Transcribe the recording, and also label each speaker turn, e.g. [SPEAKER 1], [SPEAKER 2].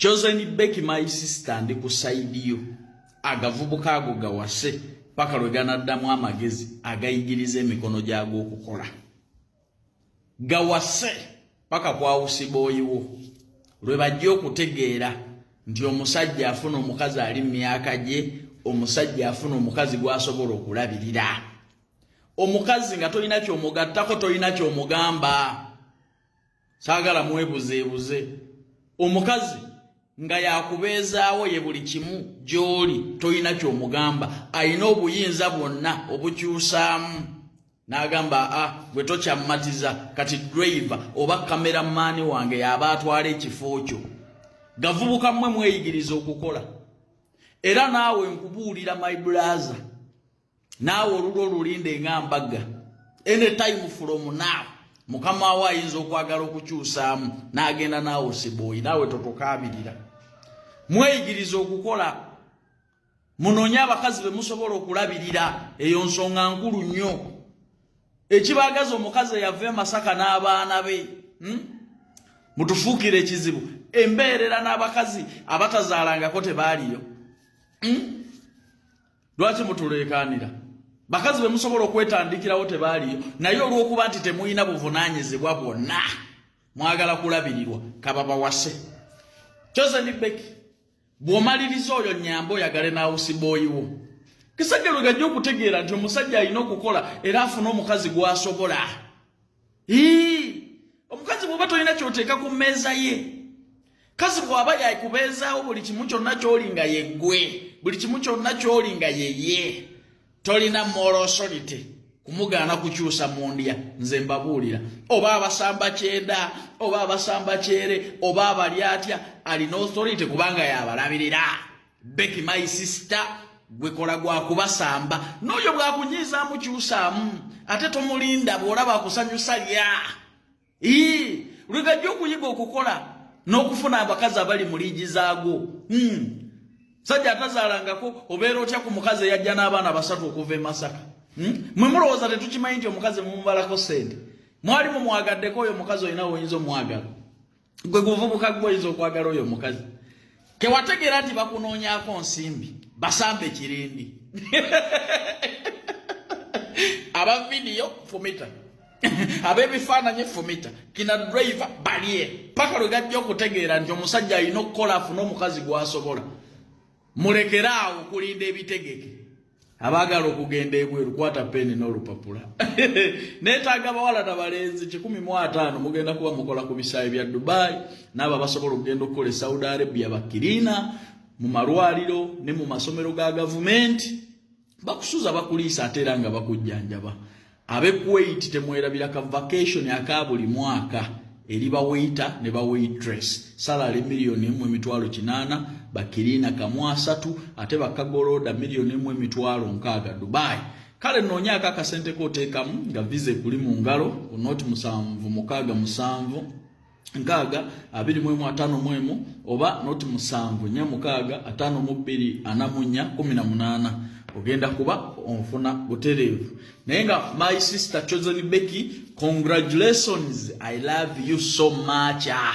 [SPEAKER 1] Chosen Becky my sister ndi ku side yo agavubuka ago gawase paka lwe ganaddamu amagezi agayigiriza emikono gyago okukola gawase paka kwawusiba oyiwo lwe bajja okutegeera nti omusajja afuna omukazi ali mu myaka gye omusajja afuna omukazi gwasobola okulabirira omukazi nga tolina kyomugattako tolina kyomugamba saagala mwebuzeebuze omukazi nga yakubeezaawo ye buli kimu gy'oli tolina ky'omugamba alina obuyinza bwonna obukyusaamu n'agamba a ah, gwe tokyammatiza kati driva oba kameramaani wange yaba atwala ekifo kyo gavubuka mmwe mweyigiriza okukola era naawe nkubuulira my blaza naawe olulwo olulinde nga mbaga anytime from now mukama wo ayinza okwagala okukyusaamu n'agenda naawe osibooyi naawe totukaabirira mweyigiriza okukola munoonye abakazi be musobola okulabirira eyo nsonga nkulu nnyo ekibagaza omukazi eyava emasaka n'abaana be hmm? mutufuukire ekizibu embeerera n'abakazi abatazaalangako tebaaliyo hmm? lwaki mutuleekaanira bakazi be musobola okwetandikirawo tebaaliyo naye olw'okuba nti temulina buvunaanyizibwa bwonna mwagala kulabirirwa kababawase joseni beki bw'omaliriza oyo nyamba oyagale n'awusibooyiwo kisajja lwe gajja okutegeera nti omusajja alina okukola era afuna omukazi gw'asobola omukazi bwoba tolina kyoteeka ku mmeeza ye kazi bwaba yakubeezaawo buli kimu kyonna kyoli nga yeggwe buli kimu kyonna kyoli nga yeye tolina morosolite kumugaana kukyusa mu ndya nze mbabuulira oba abasamba kyenda oba abasamba kyere oba abali atya alina authority kubanga yabalabirira Becky my sister gwekola gwa kubasamba n'oyo bwakunyiizaamu kyusaamu ate tomulinda bw'olaba akusanyusa lya ii lwegajja okuyiga okukola n'okufuna abakazi abali mu liigi zaagwo hmm. sajja atazaalangako obeera otya ku mukazi eyajja n'abaana basatu okuva e masaka hmm? mwe mulowooza tetukimanyi nti omukazi mumubalako sente mwali mumwagaddeko oyo mukazi olina woyinza omwagala gwe guvubuka gwe oyinza okwagala oyo omukazi tewategeera nti bakunoonyako nsimbi basambe kirindi aba vidiyo fumita ab'ebifaananyi fumita kina drive balye paka lwe gajja okutegeera nti omusajja alina okukola afune omukazi gwasobola mulekere awo okulinda ebitegeke abaagala okugenda ebweru kwata peni n'olupapula neetaaga abawala na balenzi kikumi mu ataano mugenda kuba mukola ku bisaayi bya dubai naabo abasobola okugenda okukola e saudi arabia bakiriina mu malwaliro ne mu masomero ga gavumenti bakusuza bakuliisa ate era nga bakujjanjaba abe kuwait temwerabira ka vacation aka buli mwaka eri bawaita ne bawaitress salary miliyoni emu emitwalo kinaana bakiriina kamu asatu ate bakagolooda miliyoni emu emitwalo nkaaga dubai kale noonyaako akasente kooteekamu nga viza ekuli mu ngalo onooti musanvu mukaaga musanvu nkaaga abiri mu emu ataano mu emu oba noti musanvu nya mukaaga ataano mu bbiri ana mu nnya kumi na munaana ogenda kuba onfuna butereevu naye nga my sister chosen becky congratulations i love you so much ah.